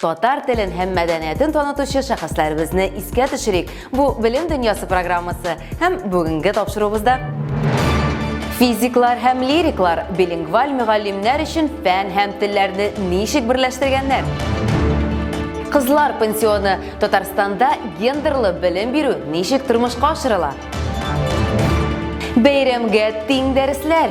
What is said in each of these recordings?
Татар телен һәм мәдәниятен танытучы шәхесләребезне искә төшерик. Бу Белем дөньясы программасы һәм бүгенге тапшыруыбызда Физиклар һәм лириклар билингваль мөгаллимнәр өчен фән һәм телләрне ничек берләштергәннәр? Кызлар пансионы Татарстанда гендерлы белем бирү ничек тормышка ашырыла? Бәйрәмгә тиң дәресләр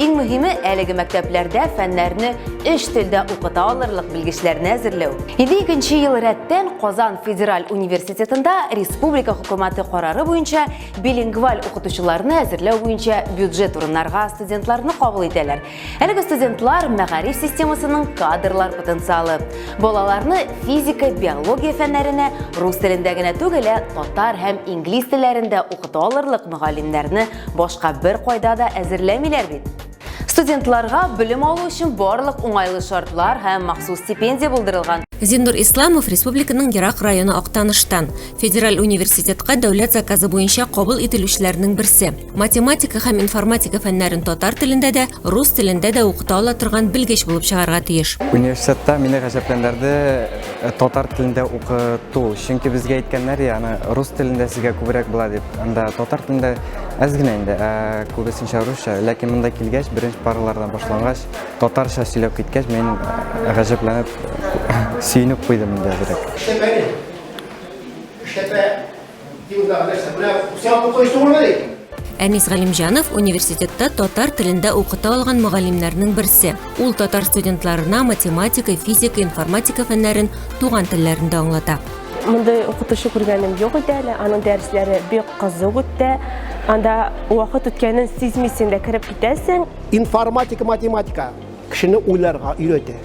Иң мөһиме, әлеге мәктәпләрдә фәннәрне өч телдә укыта алырлык белгечләрне әзерләү. 52 ел рәттән Казан федераль университетында республика хөкүмәте карары буенча билингваль укытучыларны әзерләү буенча бюджет урыннарга студентларны кабул итәләр. Әлеге студентлар мәгариф системасының кадрлар потенциалы. Балаларны физика, биология фәннәренә рус телендә генә түгел, ә татар һәм инглиз телләрендә укыта алырлык мөгаллимнәрне Башка бер кайда да әзерләмиләр бит. Студентларга белем алу өчен барлык уңайлы шартлар һәм махсус стипендия булдырылган. Зиннур Исламов республиканың ерак районы Актаныштан. Федераль университетка дәүләт заказы буенча кабул ителүчеләрнең берсе. Математика һәм информатика фәннәрен татар телендә дә, рус телендә дә укыта ала торган белгеч булып чыгарга тиеш. Университетта мине гаҗәпләндерде э, татар телендә укыту. Чөнки безгә әйткәннәр, яны рус телендә сезгә күбрәк була дип. Анда татар телендә әз генә инде, ә күбесенчә русча. Ләкин монда килгәч, беренче паралардан башлангач, татарча сөйләп киткәч, мин гаҗәпләнеп, сөенеп куйдым инде әзрәк. Эшләпә ни? Эшләпә юлда нәрсә? Менә сән укыйсы булмы ди? Әнис Галимҗанов университетта татар телендә укыта алган мөгаллимнәрнең берсе. Ул татар студентларына математика, физика, информатика фәннәрен туган телләрендә аңлата. Мондый укытучы күргәнем юк иде әле. Аның дәресләре бик кызык үтте. Анда вакыт үткәнен сизмисең дә кереп китәсең. Информатика, математика кешене уйларга өйрәтә.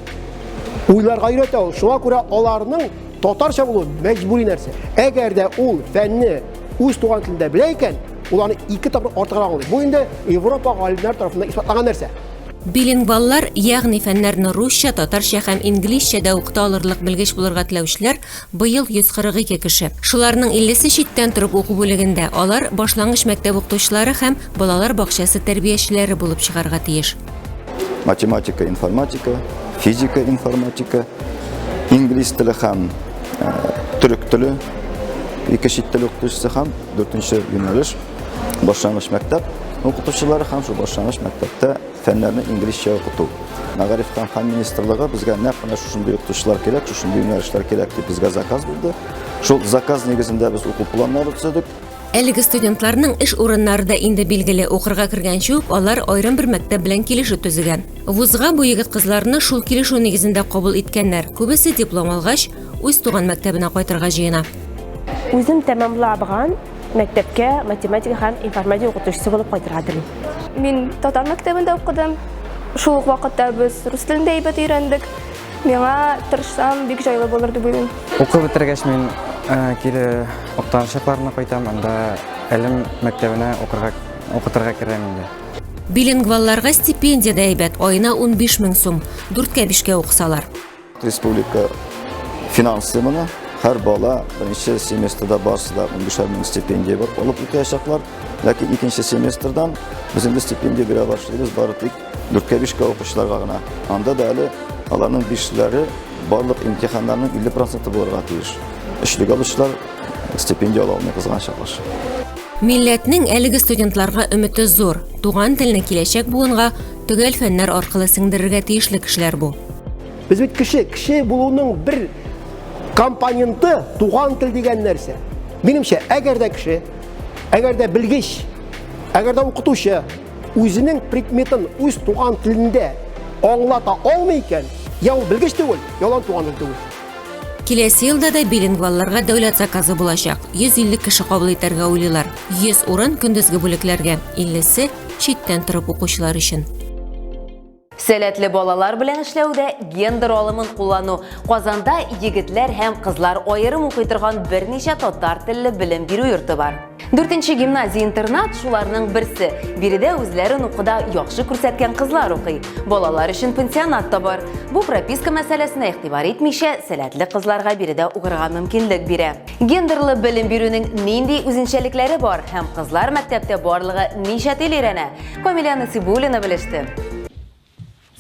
Уйларга өйрәтә ул. Шуңа күрә аларның татарча булу мәҗбүри нәрсә. Әгәр дә ул фәнне үз туган телендә белә икән, ул аны ике тапкыр артыграк аңлый. Бу инде Европа галимнәре тарафыннан исбатланган нәрсә. Билингваллар, ягъни фәннәрне русча, татарча һәм инглизчә дә укыта алырлык белгеч булырга теләүчеләр, быел 142 кеше. Шуларның 50 се читтән торып уку бүлегендә, алар башлангыч мәктәп укытучылары һәм балалар бакчасы тәрбиячеләре булып чыгарга тиеш. Математика, информатика, физика, информатика, инглиз теле һәм төрек теле, ике чит тел укытучысы һәм дүртенче юнәлеш Башлангыч мәктәп укытучылары һәм шул башлангыч мәктәптә фәннәрне инглизчә укыту. Мәгарифтан һәм министрлыгы безгә нәкъ менә шушындый укытучылар кирәк, шушындый юнәлешләр кирәк дип безгә заказ бирде. Шул заказ нигезендә без уку планнары төзедек. Әлеге студентларның эш урыннары да инде билгеле, укырга кергәнче үк алар аерым бер мәктәп белән килешү төзегән. Вузга бу егет-кызларны шул килешү нигезендә кабул иткәннәр, күбесе диплом алгач, үз туган мәктәбенә кайтырга җыена. Үзем тәмамлабган Мәктәпкә математика һәм информатика укытучысы булып кайтырга телим. Мин татар мәктәбендә укыдым. Шул ук вакытта без рус телен дә әйбәт өйрәндек. Миңа тырышсам бик җайлы булыр дип уйлыйм. Укып бетергәч мин кире Актан шәһәренә кайтам, анда Әлем мәктәбенә укырга укытырга керәм инде. Билингвалларга стипендия дә әйбәт, аена 15 мең сум, дүрткә-бишкә укысалар. Республика финансы моны һәр бала беренче семестрда барысы да унбишәр мең стипендия бар алып укыячаклар ләкин икенче семестрдан без инде стипендия бирә башлыйбыз бары тик дүрткә бишкә укучыларга гына анда да әле аларның бишләре барлык имтиханнарның илле проценты булырга тиеш өчлек алучылар стипендия ала алмый кызганыч каршы милләтнең әлеге студентларга өмете зур туган телне киләчәк буынга Төгәл фәннәр аркылы сеңдерергә тиешле кешеләр бу. Без бит кеше, кеше булуның бер компоненты туган тел дигән нәрсә. Минемчә, әгәр дә кеше, әгәр дә белгеч, әгәр дә укытучы үзенең предметын үз туган телендә аңлата алмый икән, я ул белгеч түгел, я ул туган тел түгел. Киләсе елда да билингвалларга дәүләт заказы булачак. 150 кеше кабул итәргә уйлыйлар. 100 урын көндезге бүлекләргә, 50-се читтән торып укучылар өчен. Сәләтле балалар белән эшләүдә гендер алымын куллану. Казанда егетләр һәм кызлар аерым укый торган берничә татар телле белем бирү йорты бар. Дүртенче гимназия-интернат шуларның берсе. Биредә үзләрен укуда яхшы күрсәткән кызлар укый. Балалар өчен пансионат та бар. Бу прописка мәсьәләсенә игътибар итмичә, сәләтле кызларга биредә укырга мөмкинлек бирә. Гендерлы белем бирүнең нинди үзенчәлекләре бар һәм кызлар мәктәптә барлыгы ничә тел өйрәнә? Камилә Насибуллина белеште.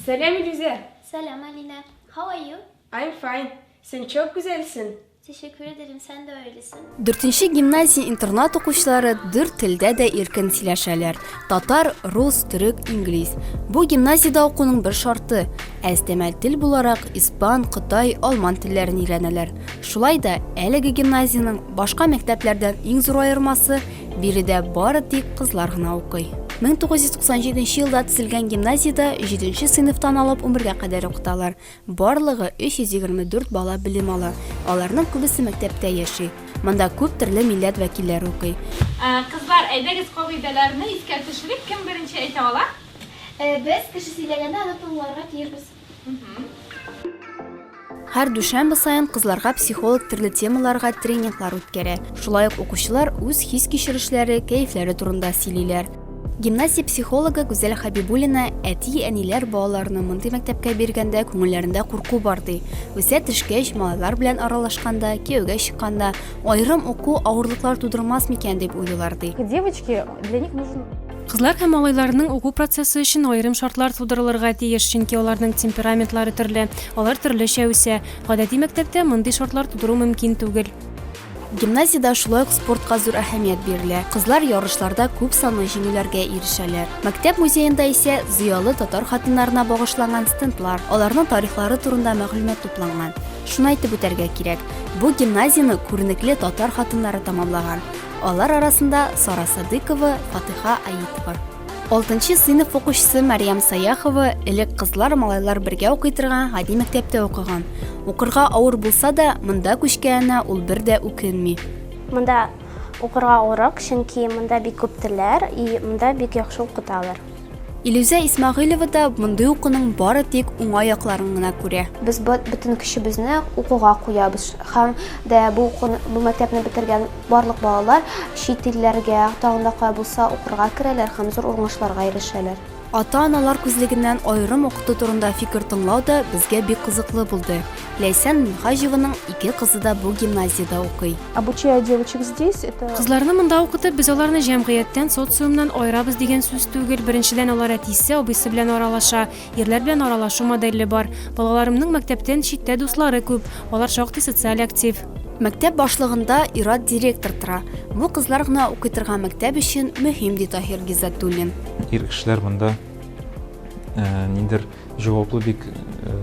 Сәлам, Илүзә! Сәлам, Алинә! How are you? I'm fine. Син чок гүзәлсен. Тешеккүр эдерем, сән дә өйлесен. Дүртенче гимназия интернат укучылары дүрт телдә дә иркен сөйләшәләр, татар, рус, төрек, инглиз. Бу гимназиядә укуның бер шарты, ә өстәмәл тел буларак испан, кытай, алман телләрен өйрәнәләр. Шулай да әлеге гимназиянең башка мәктәпләрдән иң зур аермасы, биредә бары тик кызлар гына укый. 1997 елда төзелгән гимназиядә 7 сыйныфтан алып 11 гә кадәр укыталар. Барлыгы 324 бала белем ала, аларның күбесе мәктәптә яши. Монда күп төрле милләт вәкилләре укый. Кызлар, әйдәгез кагыйдәләрне искә төшерик, кем беренче әйтә ала? Без, кеше сөйләгәндә аны тыңларга тиешбез. Һәр дүшәмбе саен кызларга психолог төрле темаларга тренинглар үткәрә. Шулай ук укучылар үз хис-кичерешләре, кәефләре турында сөйлиләр. Гимназия психологы Гүзәл Хәбибуллина әти-әниләр балаларны мондый мәктәпкә биргәндә күңелләрендә курку бар ди. Үсә төшкәч, малайлар белән аралашканда, кияүгә чыкканда, аерым уку авырлыклар тудырмас микән дип уйлыйлар ди. Девочки, для них нужен Кызлар һәм малайларның уку процессы өчен аерым шартлар тудырылырга тиеш, чөнки аларның темпераментлары төрле, алар төрлечә үсә. Гадәти мәктәптә мондый шартлар тудыру мөмкин түгел. Гимназиядә шулай ук спортка зур әһәмият бирелә, кызлар ярышларда күп санлы җиңүләргә ирешәләр. Мәктәп музеенда исә зыялы татар хатыннарына багышланган стендлар, аларның тарихлары турында мәгълүмат тупланган. Шуны әйтеп үтәргә кирәк, бу гимназияне күренекле татар хатыннары тәмамлаган. Алар арасында Сара Садыйкова, Фатыйха Аитова. Алтынчы сыйныф укучысы Мәриям Саяхова элек кызлар, малайлар бергә укый торган гади мәктәптә укыган. Укырга авыр булса да, монда күчкәненә ул бер дә үкенми. Монда укырга урак, чөнки монда бик күп телләр и монда бик яхшы укыталар. Илүзә Исмагыйлова да мондый укуның бары тик уңа якларын гына күрә. Без бөтен көчебезне укуга куябыз һәм дә бу укуны, бу мәктәпне бетергән Барлык балалар чит илләргә, тагын да кая булса, укырга керәләр һәм зур уңышларга ирешәләр. Ата-аналар күзлегеннән аерым укыту турында фикер тыңлау да безгә бик кызыклы булды. Ләйсән Минһаҗеваның ике кызы да бу гимназиядә укый. Обучая девочек здесь, это. Кызларны монда укытып, без аларны җәмгыятьтән, социумнан аерабыз дигән сүз түгел. Беренчедән, алар әтисе, абыйсы белән аралаша. Ирләр белән аралашу модельле бар. Балаларымның мәктәптән читтә дуслары күп, алар шактый социаль актив. Мәктәп башлыгында ир-ат директор тора. Бу кызлар гына укый торган мәктәп өчен мөһим, ди Таһир Гиззатуллин. Ир кешеләр монда э, ниндер җаваплы бик э,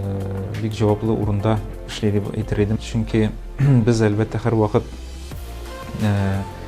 бик җаваплы урында эшли дип әйтер идем. Чөнки без әлбәттә һәрвакыт э,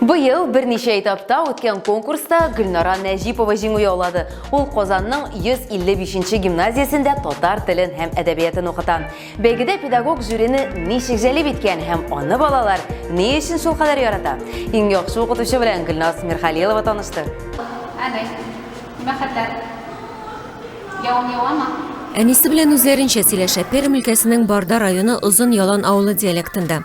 Быел берничә этапта үткән конкурста Гөлнара Нәҗипова җиңү яулады. Ул Казанның 155 гимназиясендә татар телен һәм әдәбиятын укыта. Бәйгедә педагог жюрины ничек җәлеп иткән һәм аны балалар ни өчен шулкадәр ярата? Иң яхшы укытучы белән Гөлназ Мирхалилова танышты. Әни, нимә хәтләр? Явым явамы? Әнисе белән үзләренчә сөйләшә Пермь өлкәсенең Барда районы Озын Ялан авылы диалектында.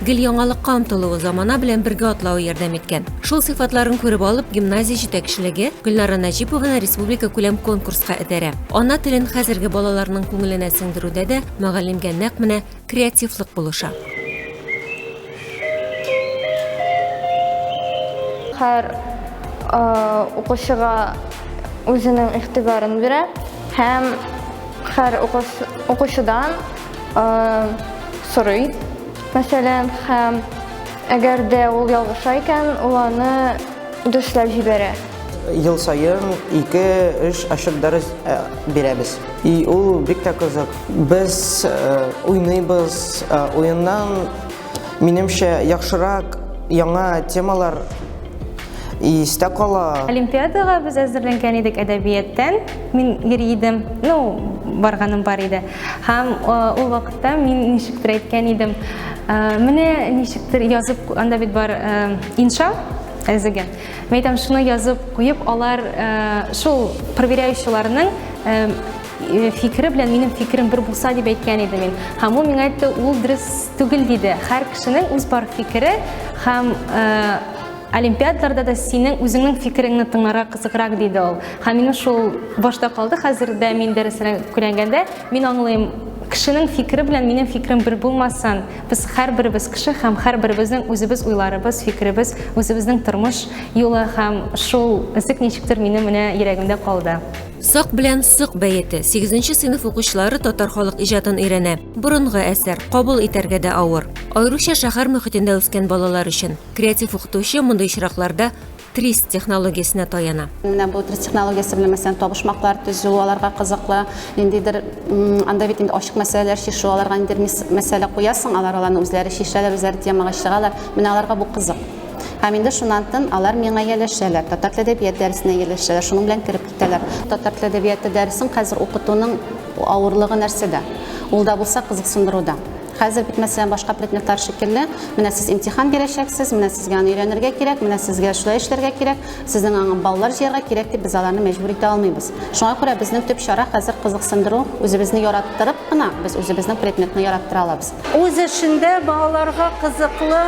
Гел яңалыкка омтылуы, замана белән бергә атлавы ярдәм иткән. Шул сыйфатларын күреп алып, гимназия җитәкчелеге Гөлнара Нәҗипованы республика күләм конкурска этәрә. Ана телен хәзерге балаларның күңеленә сеңдерүдә дә мөгаллимгә нәкъ менә креативлык булыша. Һәр укучыга үзенең игътибарын бирә һәм һәр укучыдан сорый, мәсәлән, һәм әгәр дә ул ялгыша икән, ул аны дөшләп җибәрә. Ел саен 2-3 ачык дәрес э, бирәбез. И ул бик тә кызык. Без э, уйныйбыз, э, уеннан минемчә яхшырак яңа темалар истә кала. Олимпиадага без әзерләнгән идек әдәбияттан. Мин йөри идем. Ну, барганым бар иде. Һәм ул вакытта мин ничектер әйткән идем, менә ничектер язып, анда бит бар инша әзеге. Мин әйтәм, шуны язып куеп, алар шул проверяющийларның фикере белән минем фикерем бер булса дип әйткән идем мин. Һәм ул миңа әйтте, ул дөрес түгел диде. Һәр кешенең үз бар фикере һәм Олимпиадларда да синең үзеңнең фикереңне тыңларга кызыграк, диде ул. Һәм минем шул башта калды, хәзер дә мин дәресләр күләнгәндә, мин аңлыйм, кешенең фикере белән минем фикерем бер булмасын. Без һәрберебез кеше һәм һәрберебезнең үзебез уйларыбыз, фикеребез, үзебезнең тормыш юлы һәм шул эзек ничектер минем менә йөрәгемдә калды. Сак белән сык бәете. Сигезенче сыйныф укучылары татар халык иҗатын өйрәнә. Борынгы әсәр, кабул итәргә дә авыр. Аеруча шәһәр мөхитендә үскән балалар өчен. Креатив укытучы мондый очракларда трис технологиясенә таяна. Менә бу трис технологиясе белән мәсәлән табышмаклар төзү аларга кызыклы. Ниндидер анда бит инде ачык мәсьәләләр чишү аларга ниндидер мәсьәлә куясың, алар аларны үзләре чишәләр, үзләре темага чыгалар. Менә аларга бу кызык. Һәм инде шуннан тын алар миңа ияләшәләр. Татар теле әдәбияты дәресенә ияләшәләр. Шуның белән кереп китәләр. Татар теле әдәбияты дәресен хәзер укытуның авырлыгы нәрсәдә? Ул да булса кызыксындыруда. Хәзер бит, мәсәлән, башка предметлар шикелле, менә сез имтихан бирәчәксез, менә сезгә аны өйрәнергә кирәк, менә сезгә шулай эшләргә кирәк, сезнең аңа баллар җыярга кирәк дип без аларны мәҗбүр итә алмыйбыз. Шуңа күрә безнең төп чара хәзер кызыксындыру, үзебезне яраттырып кына без үзебезнең предметны яраттыра алабыз. Үз эшендә балаларга кызыклы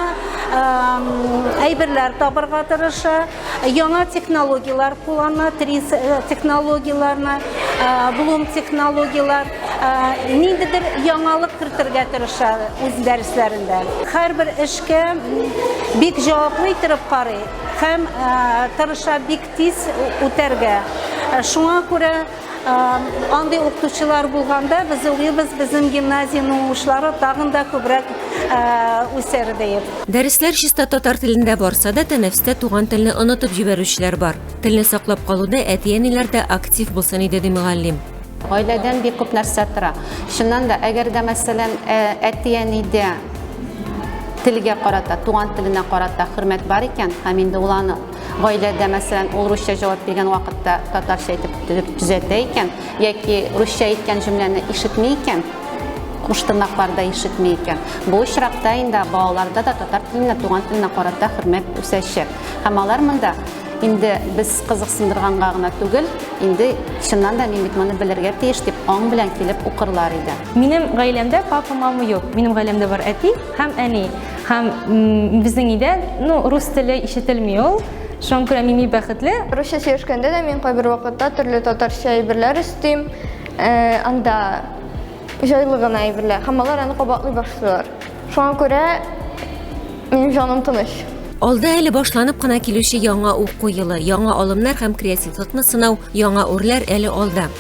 әйберләр табарга тырыша. Яңа технологияләр куллана, трис э, технологияләрне, э, блум технологияләр, э, ниндидер яңалык кертергә тырыша үз дәресләрендә. Һәрбер эшкә бик җаваплы итеп карый һәм тырыша бик тиз үтәргә. Шуңа күрә Андый укытучылар булганда без уйлыйбыз, безнең гимназиянең уңышлары тагын да күбрәк үсәр диеп. Дәресләр чиста татар телендә барса да, тәнәфестә туган телне онытып җибәрүчеләр бар. Телне саклап калуда әти-әниләр дә актив булсын иде, ди мөгаллим. Гаиләдән бик күп нәрсә тора. Чыннан да, әгәр дә, мәсәлән, әти-әнидә телгә карата, туган теленә карата хөрмәт бар икән, һәм инде ул аны Гаиләдә, мәсәлән, ул русча җавап биргән вакытта татарча әйтеп төзәтә икән, яки русча әйткән җөмләне ишетми икән, куш тырнакларда ишетми икән. Бу очракта инде балаларда да татар теленә, туган теленә карата хөрмәт үсәчәк. Һәм алар монда инде без кызыксындырганга гына түгел, инде чыннан да мин бит моны белергә тиеш дип аң белән килеп укырлар иде. Минем гаиләмдә папа, мама юк. Минем гаиләмдә бар әти, Хәм әни, хәм безнең өйдә, ну, рус теле ишетелми ул. Шуңа күрә мими бәхетле. Русча сөйләшкәндә дә мин кайбер вакытта төрле татарча әйберләр өстим. Э, анда җайлы гына әйберләр. Һәм алар аны кабатлый башлыйлар. Шуңа күрә минем җаным тыныч. Алда әле башланып кына килүче яңа уку елы, яңа алымнар һәм креативлыкны сынау, яңа үрләр әле алда.